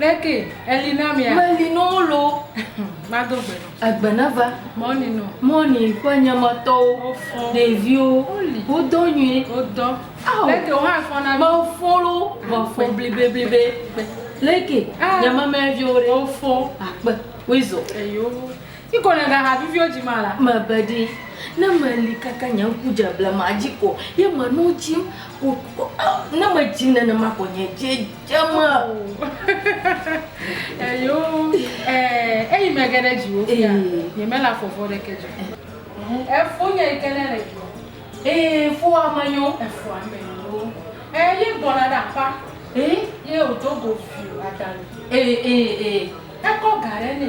Leke eli na mia? Meli no lo. Mado gbe. Egbe na va. Mɔni no. Mɔni ƒe nyamatɔwo. Wofɔ. Ɖeviwo. Woli. Wodɔ nyuie. Wodɔ. Awo. Leke wo hã fɔ na. Mefɔ lo. Mefɔ blibe blibe. Leke. Ah. Nyamamɛviwo ɖe. Wofɔ. Akpe. Wizɔ. Eyo. Ti ko nèga ha viviwo dzi ma la. Mebe ɖi, ne meli kaka nye ŋku dze blema dzi ko ye me nu dzim ko ko oh ne medzim nenema ko nye dzi dze me. Oh. Eyo eh eyi me geɖe dzi wo fia nye me la fɔfɔ ɖe ke dzi. Efo nye yi ke ne le dzi. Eh fo ame nyo. Efo ame nyo. Eh ye gbɔna ɖe apa. Eh ye o do go fio adali. Eh eh eh ekɔ ga ɖe ne.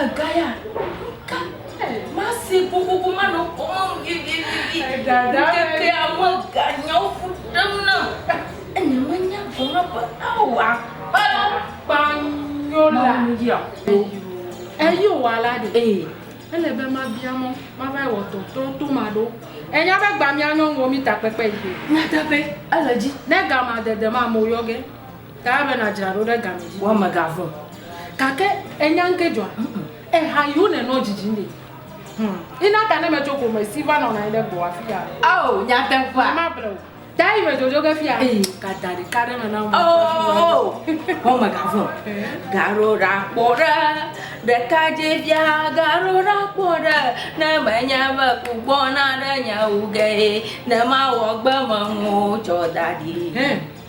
Egaya, ka te mase kokoko manɔ kɔ mam vivivivi. Ŋkekea me ga nyawo ƒu ɖem nam. Enye menya vɔ ma be ao akpa kpanyo la. Mamuya. Eyo wa la de. Ee. Ele be ma bia mɔ, ma va wɔ tɔtɔ to ma ɖo. Enya be gba mia nyɔnuwo mi takpekpe yi. Nyateƒe, ele dzi. Ne ga ma dede ma mo yɔ ge. Taa be nadzra ɖo ɖe game dzi. Wɔ megavɔ̃ gake ènya ŋkee dzɔa? Eha yiwo nènɔ dzidzim ɖe? Hum, ena ta ne metso ƒome si va nɔna anyi ɖe gbɔwò afia. Oo, nyateƒea. Nyemable o. Taa yi medzodzoe ge fia. Ee. Gada ɖeka ɖe me na wò. Oo, wɔ megavɔ̃. Gaɖo ɖa kpɔ ɖe, ɖekadzɛvia, gaɖo ɖa kpɔ ɖe, ne menye be ku gbɔna ɖe nye wu gee, ne mawɔ gbemenuwo tsɔ da ɖi. Hɛn.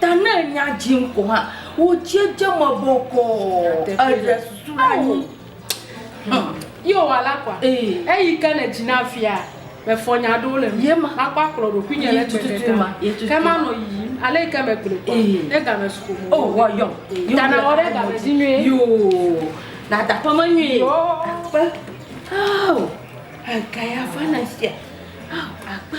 Ta ne nya dzim ko hã, wò dzi dze me bɔkɔɔ, èɖe susu ɖe anyi. Hm. Ye wòwɔ la kɔa? Ee. Eyi ke le dzi na fia be fɔ nya aɖewo le ŋu. Ye ma. Makpɔ akplɔ ɖokuinye le gbe ɖeka me. Ke manɔ yiyim. Ale yi ke megblɔe kɔa, ne game su ƒome wɔ. O, wɔ yɔm. Ta nawɔ ɖe game dzi nyuie. Yoo. Nàda aƒeme nyuie. Yoo. Akpe. Ao. Egaya va na sia. Ao, akpe.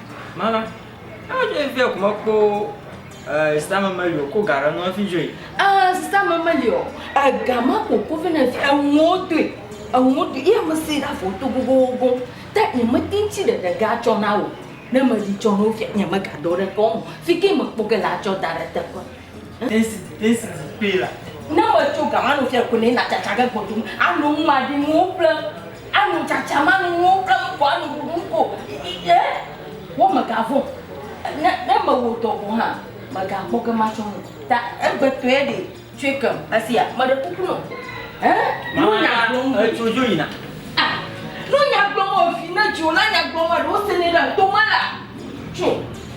Mama, ah je vie ko me kpo eh, sika me meli o, ko ga ɖe nu hafi dzoe. Eh, sika me meli o, ega ma ko ko vɛ na fi, enuwo doe, enuwo doe, ye me si ɖa fo to gogogo, ta nye me tin tsi ɖe ɖe ga tsɔ na o, ne me ɖi tsɔ na wo fia, nye me ga dɔ ɖe ke wo mo, fi ke me kpɔ ke la tsɔ da ɖe teƒe. Ne metso ga mano tsɛ ko ne na tsatsa ge gbɔdum ano nu maɖi nuwo ƒlem ano tsatsa mano nuwo ƒlem ko ano ɖuɖu ko ye wo me ga vɔ ne ne me wo dɔ ko hã me ga kpɔ ge matsɔ nu ta egbe tɔe ɖe tsoe ke esia me ɖe kuku nɔ ɛ no nya gblɔ mu etso dzo yina ah no nya gblɔ mu evi ne dzo la nya gblɔ mu eɖo se ne ɖe to mala tso.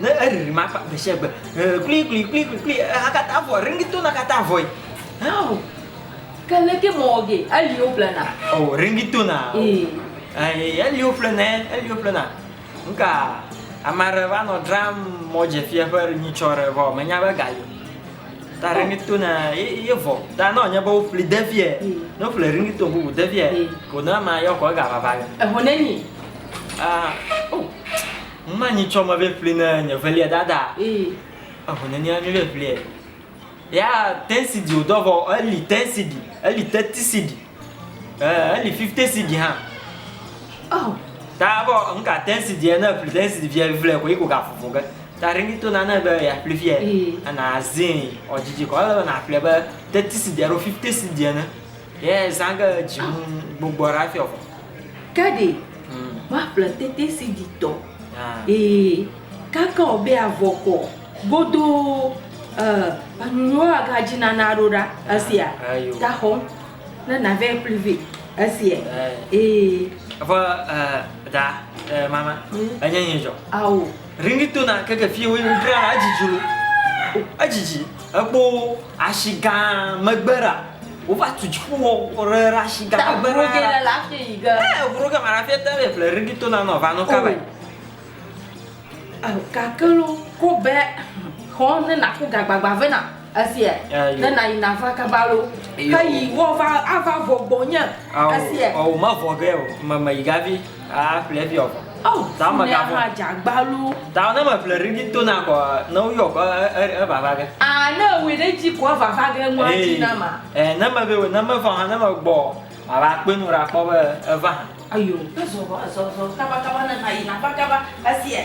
Ne eɖiɖi ma kpa gbesiagbe kpli kpli kpli kpli kpli eha katã avɔ ringi tona katã avɔe hao ke leke mɔ ɔge eliwo ƒlena o ringi tona ee eliwo ƒlena eliwo ƒlena nuka amare va nɔ dram mɔ dzefia ƒe nyitsɔ re vɔ menya be gayo ta ringi tona ye vɔ ta nɔ nye be wo ƒli devia ne ƒle ringi to bubu devia ko na ma yɔ ko ega vava yo ehonenyi ah oh Ŋma nyi tsɔ mebe ƒli ne nye velia dada. Eho ne nia nyuɖe ƒliɛ. Ya tensi di wodɔ vɔ eli tensi di, eli tetisi di. Eh, eli fiftesi di ha. Oh. Ta vɔ ŋka tensi di ne ƒli tensi di via vle ko iko ga fufu ge. Ta ringi to na ne be ya ƒli fia. Ana zin, ɔjiji ko ele na ƒli be tetisi di alo fiftesi di ne. Ye zã ge dzi ŋu gbogbɔ ɖa fiɔ vɔ. Ke ɖe woaƒle tete si dzi tɔ ee kake ɔ be avɔ kɔ godoo e enunuwo aga dzi na na ɖo ɖa esia ta xɔ ne na vɛ ƒli vɛ esia ee. Vɔ e da e mama enye nye dzɔ. Ao. Ringitona keke fiẽ woe wodzra la edzidzi wo edzidzi ekpo ashi gã megbe ɖa wova tu dziƒo wɔ ɖe ɖe ashi gã megbe ɖa ɖa ɖa la fiẽ yi ge ee vro ge ma la fiẽ te ye ƒle ringitona nɔ va nɔ kaba yi gake lo ko be xɔ ne naku gagbagba vena Esia, ne nayi nava kaba lo. Heyi woava ava vɔ gbɔnye. Esia. Ɔwò mevɔ ge o, me meyi gavi aƒle fi ɔvɔ. Oh, ta me gavɔ. Ne dzagba lo. Ta ne me ƒle rigi to na kɔ, ne woyɔ kɔ evava ge. Ah, ne wòe ɖe dzi kɔ evava ge ŋua dzi na ma. Eh, ne me vɛ, ne me vɔ hã ne me gbɔ, ava kpe nu ɖa kpɔ be eva. Ayo, ne zɔ zɔ zɔ kaba kaba ne nayi nava kaba. Esia.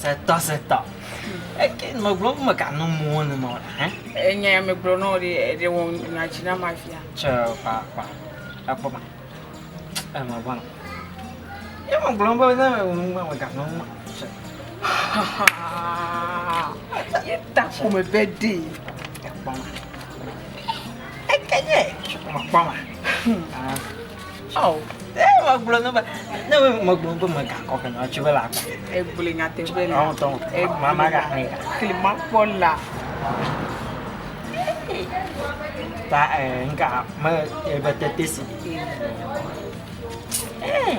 Setɔ setɔ. Eke nɔ gblɔ me ka no mo ne nɔ hã. Enya ya me gblɔ nɔ de de wo na chi na ma fia. Che pa pa. Akpo ma. E ma bona. E ma gblɔ be na wo ma me ka no mo. Che. Ye ta ko me bedi. Akpo ma. Ekenye mekpɔma. Oh, megblɔ ne be ne megblɔ be megakɔ ke na tsi be la. Egblɔ nyateƒe la. Ɔn tɔn. Egblɔ mama ga hɛn. Klima kpɔ la. Ta eh nka me ebe tete si. Eh.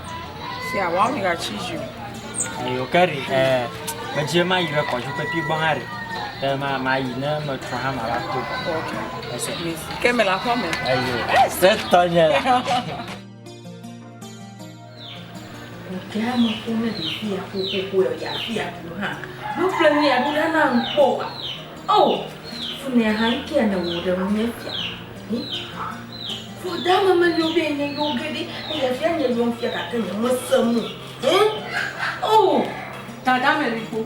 Se a wao mi ga tsi zi o. Eyo ke ri ɛ medzi ma yi ɖe kɔdzi pepi gbɔ hã ri. Ke ma ma yi ne me trɔ hã ma va to gbɔ. Ok. Ese. Ke me la xɔ me. Eyo. Ese tɔ nye la. Kea me ko ne de fia ko ko ko ya ya fia ko ha. Bo fle ni ya dula na nkpo wa. Oh. Fune ha nkia ne wo de mu ne fia. Hmm? Ƒo ɖe eme menyo be enye yewo geɖe ne yevia nye yewo fia gake nyemese nu o. Oo, Dada Mɛlikpo,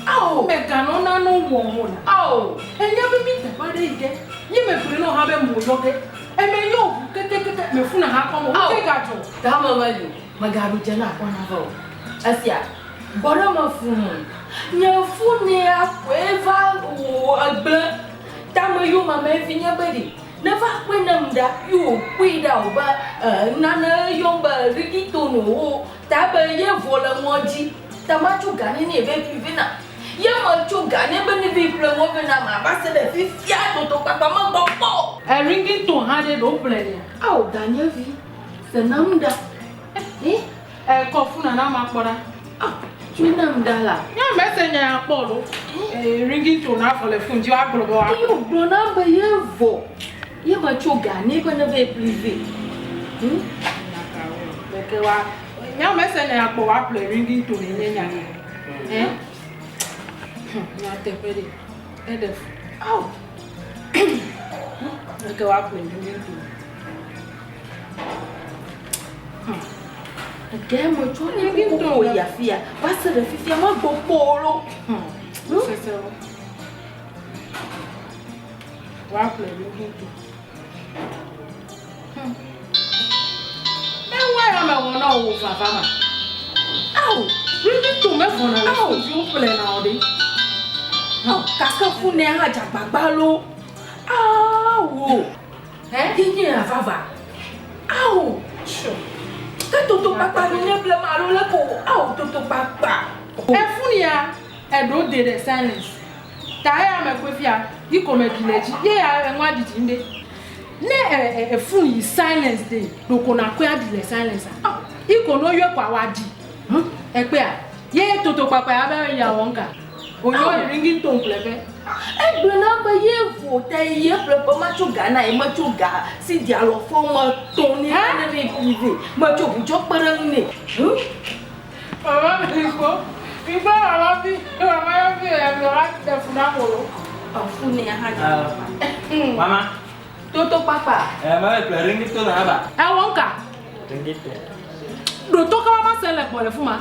ao meganɔ nane wɔ o la, ao enya be mi teƒe aɖe yi ge ye megblɔe nɔ hã be mo yɔ ge eme nyo ŋu ketekete me funa ha kɔm o ŋke gadzɔ. Da me meli megaɖu dze na kpɔ na va o esia gbɔ ɖe me fuu nye funea koe va wò egble tame yomame vinye be ɖe. Ne va kpɔe ne mda yo kpɔe ɖa o be nane yɔm be riding tone o wo ta be ye vɔ le ŋɔ dzi ta ma tso gane ne be ƒi ve na ye me tso gane be ne be ƒle ŋɔ ve na ma va se ɖe fifia dodo kpakpa me gbɔ kpɔ o. E ringing tone ha ɖe ɖo ƒle nea. Ao danyevi se nam ɖa eh. Eh, kɔ funa na ma kpɔ ɖa. Ah, tsui nam ɖa la. Nya mese nya ya kpɔ ɖo. Eh, ringing tone afɔ le fun dzi wa gblɔ bɔ wa. Eyi gblɔ na be ye vɔ. Ye ma tso ga ne be ne be privé. Hm? Na ka wo. Be ke wa nya mese nya ya kpɔ wa ple ringing tone nye nya ne. Eh? Nya te pe de. E de. Au. Be ke wa ple ringing tone. Ɖe metsɔ ne vi tɔ o yi afi ya va se ɖe fifia megbɔ kpɔ o ɖo. Sesewo. Woaƒle ɖo ɖo ɖo. Ewa ya me wɔna o vava ma. Aw, ɖevi tɔ mevɔna le viwo ƒle na o ɖe. Aw, kake funɛ hã dzagbagba lo. Awo. Ɣeaɖi nye ya vava. Ao! Tsɔ. Ke toto kpakpa nu nye blema alo le ko o. Ao! Toto kpakpa. Efun ya eɖo de ɖe silence. Ta eya me kwe fia yi ko me ɖi le dzi. Ye ya eŋua ɖi dzi ŋɖe. Ne e e efun yi silence de ɖo ko na kwe aɖi le silence a. Ao! Yi ko no yɔe ko awa ɖi. Hm ekpea. Ye toto kpakpa ya be ya wɔnka. Wònyo ringing tone ƒle ƒe. Egblɔ na be ye vo ta yi ye ƒle ƒe ma tso ga na ye me tso ga si dia lɔ fɔ me tɔ ne ha ne ne yi de me tso bu tso kpe ɖe ŋu ne. Mama mi ko mi gba mama mi mama ya mi ya mi wa de fu na mo lo. Afu ne ya ha ja. Mama. Toto papa. Eh mama ƒle ringing tone haba. Eh wonka. Ringing tone. Ɖo to kama ma se le kpɔ le fu ma.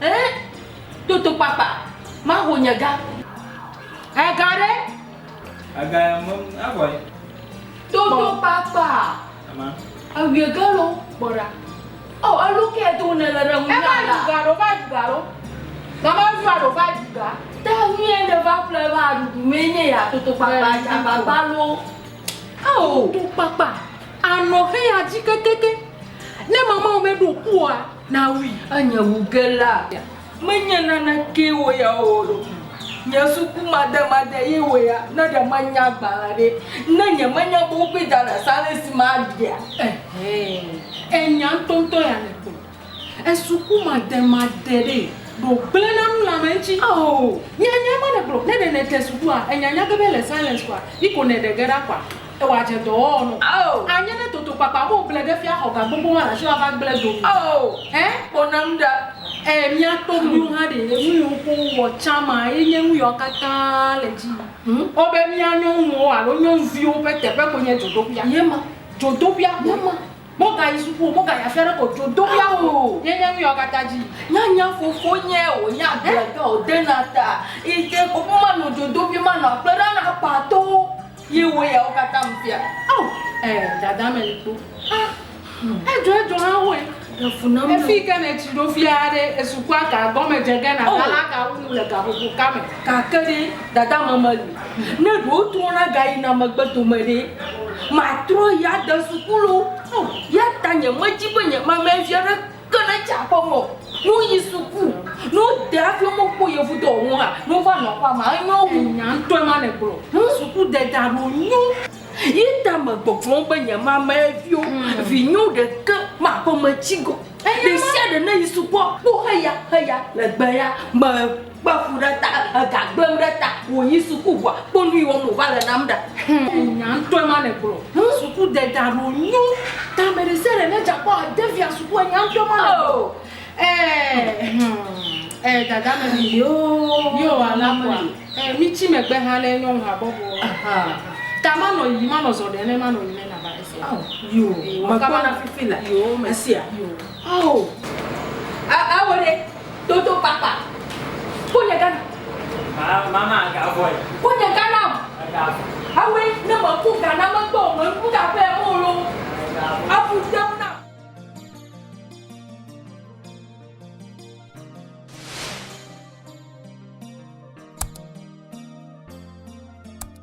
Ẽ, toto kpakpa maho nye ga. Ẽ ga ɖe? Ega ya mem avɔe. Toto kpakpa. Ama. Ewie ga lo kpɔ ɖa. Ɔ elu kɛ to ne le ɖe ŋu. Eva ɖu ga ɖo va ɖu ga ɖo. Mama ŋu va ɖo va ɖu ga. Ta ŋu yɛ ne va ƒle va ɖuɖu mɛ nye ya toto kpakpa agbagba lo. Ao. Toto kpakpa anɔ xe ya dzi kekeke. Ne mama wo me ɖo ku oa. Na wui enye wu ge la ya me nye nane ke wo ya wo wo ɖo kum nye suku made made ye wo ya ne ɖe me nya gbalẽ ɖe ne nye me nya be wo kpe da ɖa sa le si ma ɖea ehee enya ŋtɔ ŋtɔ ya ne kpe esuku made made ɖe ɖo gble na nu le ame ŋtsi aoo nya nya ma ne gblɔ ne ɖe ne de suku a enya nya ge be le silence kɔa yi ko ne ɖe ge ɖa kɔa. Eye wòadze dɔwɔwɔ nu. Anye ne toto kpakpa mo gble ɖe fia xɔ ga gbogbo ma la tsi wòava gble do mi. Ẽ? Ƒo nam ɖa. Ẽ, mía to mi. Míwo hã ɖe enu yi ŋu ko wowɔ tsã ma ye nye nu yawo katã le dzi yim. Wo be mía nyɔnuwo alo nyɔnuviwo ƒe teƒe koe nye dzodoƒea. Ye ma. Dzodoƒea koe. Ye ma. Mogayi suku o, mogayi afi aɖeke o, dzodoƒea koe ye nye nu yawo katã dzi yim. Nyanya fofonye o, nya gblɔge o, dena ta, yi te ko, manɔ dzodoƒe, manɔ akplẽ ɖam na akpatɔwo. Ye wò yawo katã me fia. Ao, eh, dada me likpo. Ha, edzɔ edzɔ ha hoe. Ɖe fu nam. Efi ke ne tsi ɖo fia ɖe esukua ga gɔme dze ge na lala ga wu nu le gaƒoƒo ka me. Gake ɖe dada me me li. Ne ɖe wotrɔ na ga yi na megbe dome ɖe ma trɔ ya de suku lo. Ao, ya ta nye me dzi be nye ma me fia ɖe. Ke ne tsa kpɔ mɔ nu yi suku nu de hafi wome kpɔ yevu dɔ ŋu hã nu va nɔ kpɔ ma enyo wu nya ŋutɔe ma ne gblɔ. Ŋu suku de da ɖo nyo yi ta me gbɔgbɔm be nye ma me vio mm. vi nyo de ke ma kpɔ me tsi go. Ɖe sia ɖe ne yi sukua kpɔ heya heya le gbe ya me. Kpe fu ɖe ta, ega gblẽm ɖe ta, wòyi suku ŋua, kpɔ nu yi wɔm wòva le nam ɖa. Enya ŋtɔe ma nègblɔ. Suku deda ɖo nyo. Ta me ɖe sia ɖe ne dza kpɔ ade via suku enya ŋtɔe ma nègblɔ. Oh. Eh, eh, dada me mi yo. Mi o ala kua. Eh, mi tsi me gbe ha ne nyɔnu ha bɔbɔ. Aha. Ta ma nɔ yi, ma nɔ zɔ ɖe ne ma nɔ yi ne nava esia. Oh, yo. Yo, ma kama na fifi la. Yo, me sia. Yo. Oh. Ah, ah, wo ɖe. Dodo kpakpa. Ko nye Ghana. Mama ga boy. Ko nye Ghana. Ga. Awe ne me ku Ghana me gbɔ me ku ga pe mo lo. Abu se na.